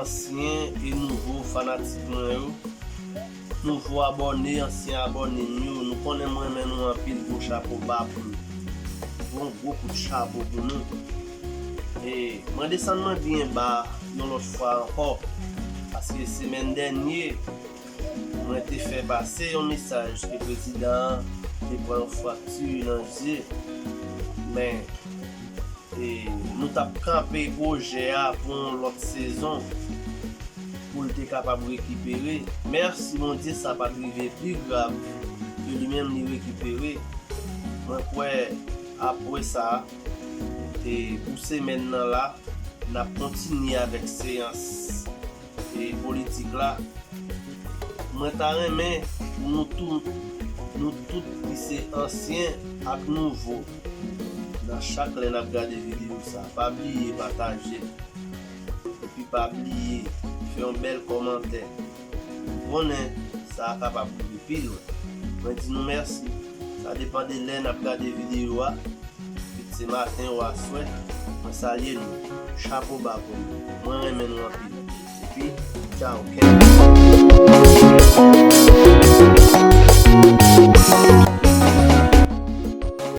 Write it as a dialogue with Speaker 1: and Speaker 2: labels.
Speaker 1: Ansyen e nouvo fanatik mwen yo, nouvo abòne, ansyen abòne m yo, nou konnen m renmen nou anpil gwo chapo ba pou nou. Yon gwo kout chapo pou nou. E mwen desann mwen byen ba yon lòt fwa ankò paske semèn dènye Mwen te fè pase yon mesaj ke prezidan an te pran yon frakti nan je, men nou t ap kanpe pwojè a pou yon lòt sezon pou l te kapab rekipere. Mèsi Bondye sa pa t rive pi grav ke li menm li rekipere. Mwen kwè apwesa pou semèn nan la n ap kontinye avèk seyans. e politik la mwen ta renmen pou nou tou nou tout ki se ansyen ak nouvo nan chak lè nap gade video sa pa bliye patajel epi pa bliye fè yon bèl kòmantè ou konnen sa kapab rive pi lwen mwen di nou mèsi. Sa depan de lè nap gade video a, kit se maten ou aswè, mwen salye nou, chapo ba pou nou, mwen renmen nou anpil, epi tchao kenn.